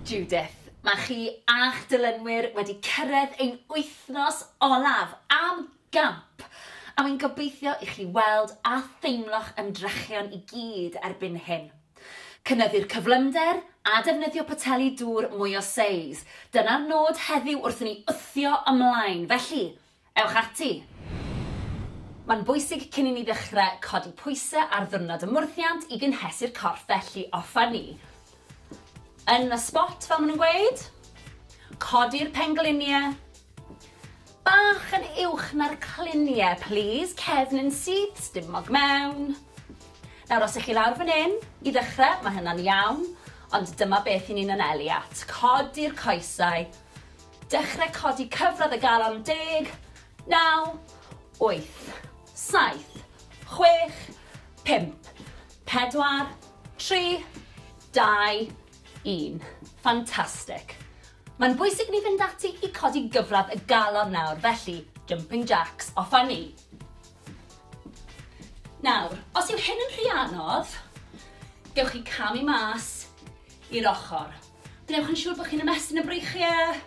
Judith, mae chi a'ch dilynwyr wedi cyrraedd ein wythnos olaf am gamp, a wy'n gobeithio i chi weld a theimlo'ch ymdrechion i gyd erbyn hyn. Cynyddu'r cyflymder a defnyddio poteli dŵr mwy o seis, dyna'r nod heddiw wrth i ni wthio ymlaen, felly, Ewch ati! Mae'n bwysig cyn i ni ddechrau codi pwysau ar ddiwrnod y mwrthiant i gynhesu'r corff felly offer ni yn y sbot fel maen nhw'n gweud. Codi'r penglinie bach yn uwch na'r clinie plîs, cefn yn syth, sdim mog mewn. Nawr os ych chi lawr fan hyn i ddechrau mae hynna'n iawn ond dyma beth i ni'n anelu at. Codi'r coesau, Dechrau codi cyfradd y galon deg, naw, wyth, saith, chwech, pump, pedwar, tri, dau, un. Fantastic. Mae'n bwysig ni fynd ati i codi gyfradd y galon nawr, felly jumping jacks, off a ni. Nawr, os yw hyn yn rhy anodd, gewch chi camu mas i'r ochr. Gwnewch yn siŵr bod chi'n ymestyn y breichiau.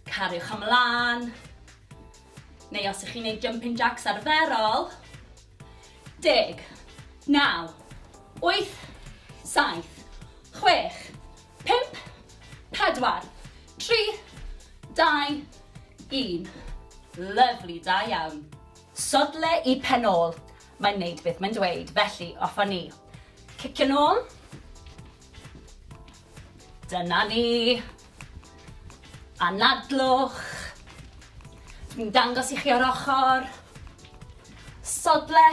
Cariwch ymlaen. Neu os ych chi'n gwneud jumping jacks arferol. Deg, naw, wyth, saith, chwech, pimp, pedwar, tri, dau, un. Lyflu, da iawn. Sodle i pen ôl. Mae'n neud beth mae'n dweud, felly off â ni. Cicio'n ôl. Dyna ni. Anadlwch. Dwi'n dangos i chi o'r ochr. Sodle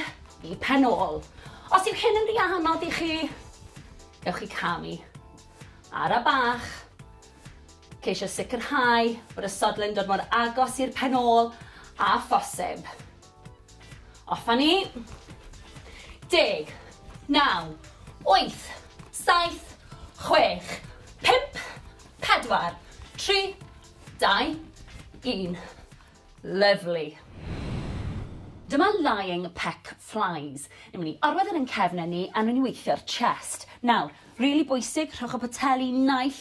i pen ôl. Os yw hyn yn rhy anodd i chi, ewch i camu. Ara bach. Ceisio sicrhau bod y sodle'n dod mor agos i'r pen ôl a phosib. Off a ni. Deg. Naw. Wyth. Saith. Chwech. Pump. Pedwar. Tri. Dau. Un. Lyfli. Dyma lying peck flies. Ni'n mynd i orwedd yn ein cefn ni a ni'n mynd i weithio'r chest. Nawr, rili bwysig, rhowch y poteli naill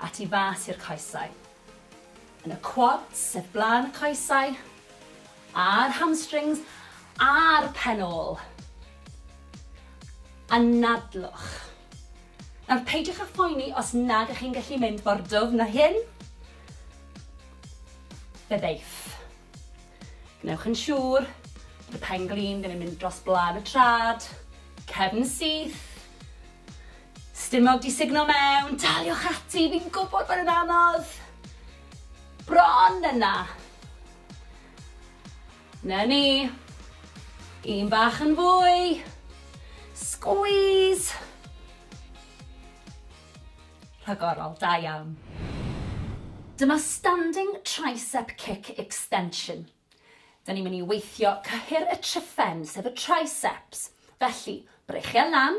a tu fas i'r coesau. Yn y quads, sef blaen y coesau, a'r hamstrings, a'r pen ôl. Anadlwch. Nawr, peidiwch â phoeni os nad ych chi'n gallu mynd mor dwfn na hyn. Fe ddeiff. Gwnewch yn siŵr bod y pen glin ddim yn mynd dros blaen y trad, cefn syth, Stumog 'di sugno mewn! Daliwch ati, fi'n gwybod bod e'n anodd! Bron yna! Na ni! Un bach yn fwy! Squeeze! Rhagorol, da iawn. Dyma Standing Tricep Kick Extension. Da ni'n mynd i weithio cyhyr y triffen, sef y triceps. Felly, breichiau lan,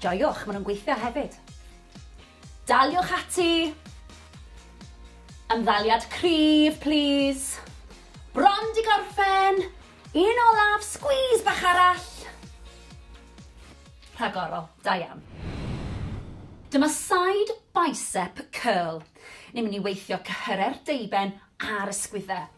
Joiwch, maen nhw'n gweithio hefyd. Daliwch ati! Ymddaliad cryf, plis. Bron di gorffen! Un olaf, squeeze bach arall! Rhagorol, da iawn. Dyma side bicep curl. Ni'n mynd i weithio cyhyrau'r deuben a'r ysgwyddau.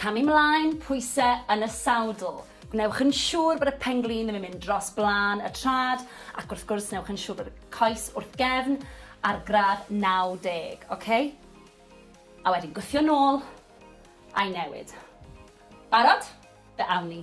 Camu 'mlaen, pwyse yn y sawdl. Gwnewch yn siŵr bod y pen-glin ddim yn mynd dros blaen y trad, ac wrth gwrs newch yn siŵr bod y coes wrth gefn ar gradd 90, oce? A wedyn gwthio nôl, a'i newid. Barod? Fe awn ni.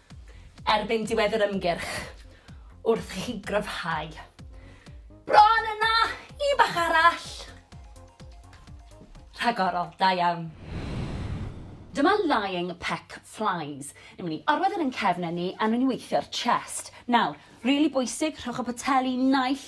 erbyn diwedd yr ymgyrch wrth i chi gryfhau. Bron yna! Un bach arall! Rhagorol, da iawn. Dyma lying peck flies. Ni'n mynd i orwedd yn ein cefnau ni a ni'n mynd i weithio'r chest. Nawr, rili bwysig, rhowch y poteli naill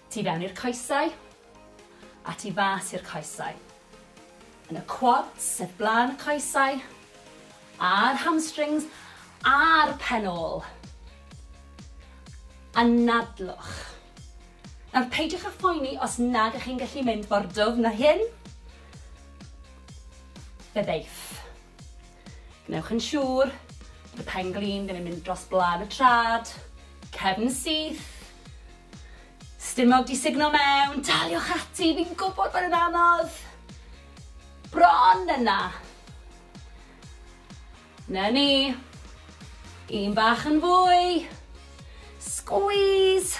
Tu fewn i'r coesau, a tu fas i'r coesau. Yn y quads, sef blaen y coesau, a'r hamstrings, a'r pen ôl. Anadlwch. Nawr peidiwch â phoeni os nag ych chi'n gallu mynd mor dwfn â hyn. Fe ddeith. Gwnewch yn siŵr bod y pen glin ddim yn mynd dros blân y trad, cefn syth, stumog di sugno mewn, daliwch ati, fi'n gwybod bod yn anodd. Bron yna. Na ni. Un bach yn fwy. Squeeze.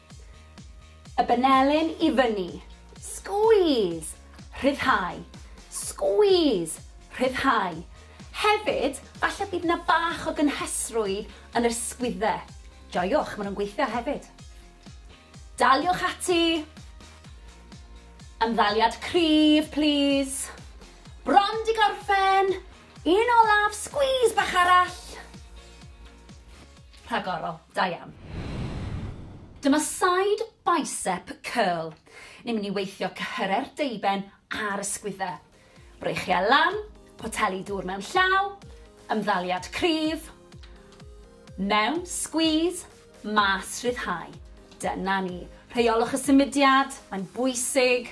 Y benelin i fyny. Squeeze! Rhyddhau. Squeeze! Rhyddhau. Hefyd, falle bydd yna bach o gynhesrwydd yn yr sgwydde. Joiwch, maen nhw'n gweithio hefyd. Daliwch ati. Ymddaliad cryf, plîs. Bron di gorffen! Un olaf, squeeze bach arall. Rhagorol, da iawn. Dyma side bicep curl. Ni'n mynd i weithio cyhyrau'r deuben a'r ysgwyddau. Breichiau lan, poteli dŵr mewn llaw, ymddaliad cryf, mewn, squeeze, mas, rhyddhau. Dyna ni. Rheiolwch y symudiad, mae'n bwysig.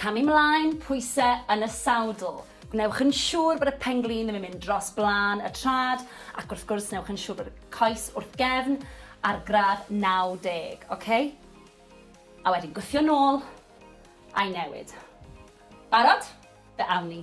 Camu 'mlaen, pwyse yn y sawdl. Gwnewch yn siŵr bod y pen-glin ddim yn mynd dros blaen y trad, ac wrth gwrs newch yn siŵr bod y coes wrth gefn ar gradd 90, oce? A wedyn gwthio nôl, a'i newid. Barod? Fe awn ni.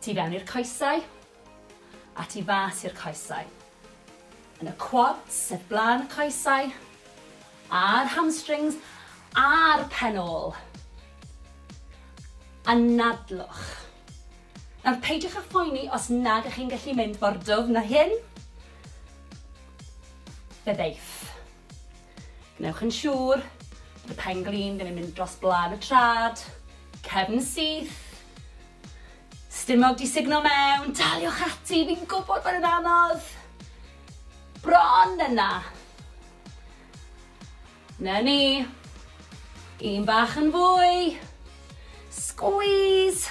Tu fewn i'r coesau, a tu fas i'r coesau. Yn y quads, sef blaen y coesau, a'r hamstrings, a'r pen ôl. Anadlwch. Nawr peidiwch â phoeni os nag ych chi'n gallu mynd mor dwfn â hyn. Fe ddeith. Gwnewch yn siŵr bod y pen glin ddim yn mynd dros blân y trad, cefn syth, stumog di sugno mewn, daliwch ati, fi'n gwybod bod yn anodd, bron yna. Na ni, un bach yn fwy, squeeze,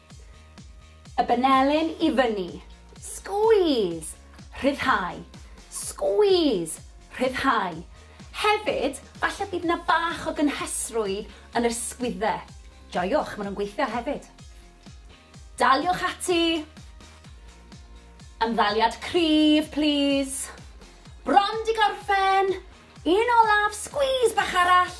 Y benelin i fyny. Squeeze! Rhyddhau. Squeeze! Rhyddhau. Hefyd, falle bydd yna bach o gynhesrwydd yn yr sgwydde. Joiwch, maen nhw'n gweithio hefyd. Daliwch ati. Ymddaliad cryf, plîs. Bron di gorffen. Un olaf, squeeze bach arall.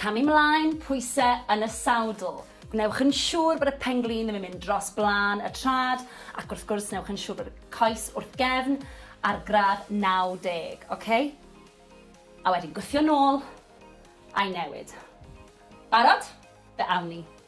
Camu 'mlaen, pwyse yn y sawdl. Gwnewch yn siŵr bod y pen-glin ddim yn mynd dros blaen y trad, ac wrth gwrs newch yn siŵr bod y coes wrth gefn ar gradd 90, oce? A wedyn gwthio nôl, a'i newid. Barod? Fe awn ni.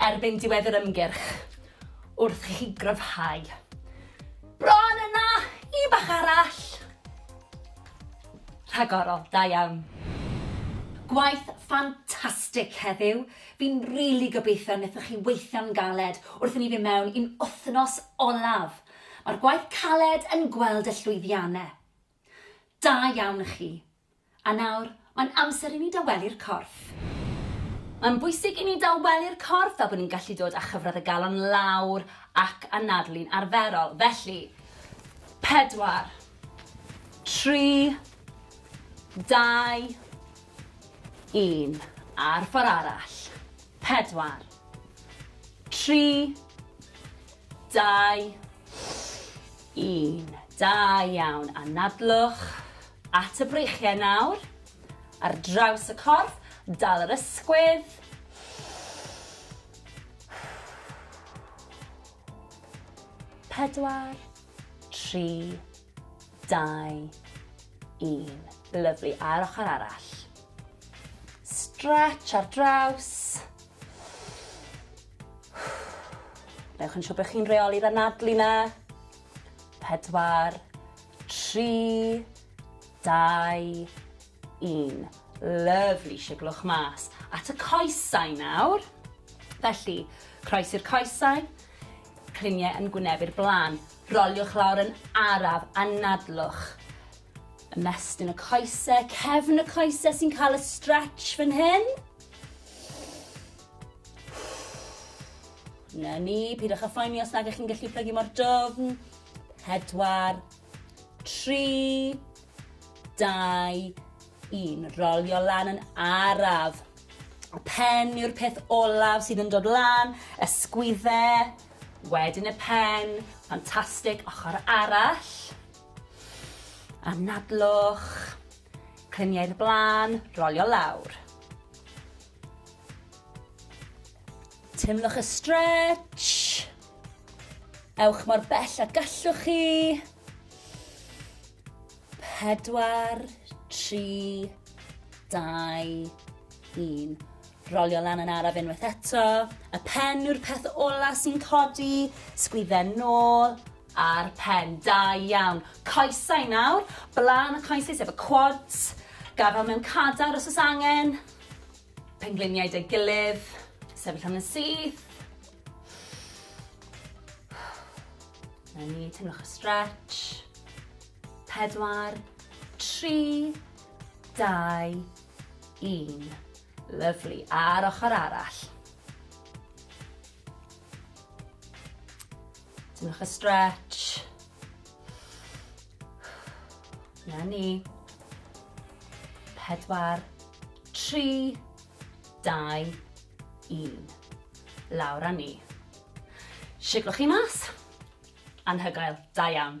erbyn diwedd yr ymgyrch wrth i chi gryfhau. Bron yna! Un bach arall! Rhagorol, da iawn. Gwaith ffantastig heddiw. Fi'n rili gobeithio nethoch chi weithio'n galed wrth i ni fyn mewn i'n wthnos olaf. Mae'r gwaith caled yn gweld y llwyddianne. Da iawn i chi. A nawr, mae'n amser i ni dawelu'r corff. Mae'n bwysig i ni dawelu'r corff fel bod ni'n gallu dod â chyfradd y galon lawr ac anadlu'n arferol. Felly, pedwar, tri, dau, un. A'r ffordd arall. Pedwar, tri, Dau, un. Da iawn. Anadlwch at y breichiau nawr. Ar draws y corff, dal yr ysgwydd. Pedwar, tri, dau, un. Lyflu. A'r ochr arall. Stretch ar draws. Newch yn siŵr bod chi'n reoli'r anadlu na. Pedwar, tri, dau, un. Lyfli, siglwch mas. At y coesau nawr. Felly, croes i'r coesau, criniau yn gwynebu'r blaen. Roliwch lawr yn araf, anadlwch. Ymestyn y coesau, cefn y coesau sy'n cael y stretch fan hyn. Na ni, pidwch â phoeni os nag ych chi'n gallu plygu mor dofn. Pedwar, tri, dau, un. Rolio lan yn araf. Y pen yw'r peth olaf sydd yn dod lan, ysgwydde, wedyn y pen, ffantastig, ochr arall. Anadlwch, cliniau'r blaen, rolio lawr. Teimlwch y stretch. Ewch mor bell a gallwch chi. Pedwar, tri, dau, un. Rolio lan yn araf unwaith eto. Y pen yw'r peth ola sy'n codi. Sgwydden nôl a'r pen. Da iawn. Coesau nawr. Blaen y coesau sef y quads. Gafel mewn cadar os oes angen. Pengliniau 'da'i gilydd. Sefyll am yn syth. Na ni, teimlwch y stretch. Pedwar, tri, dau, un. Lyflu. A'r ochr arall. Teimlwch y stretch. Na ni. Pedwar, tri, dau, un. Lawr a ni. Siglwch chi mas. Anhygoel, da iawn.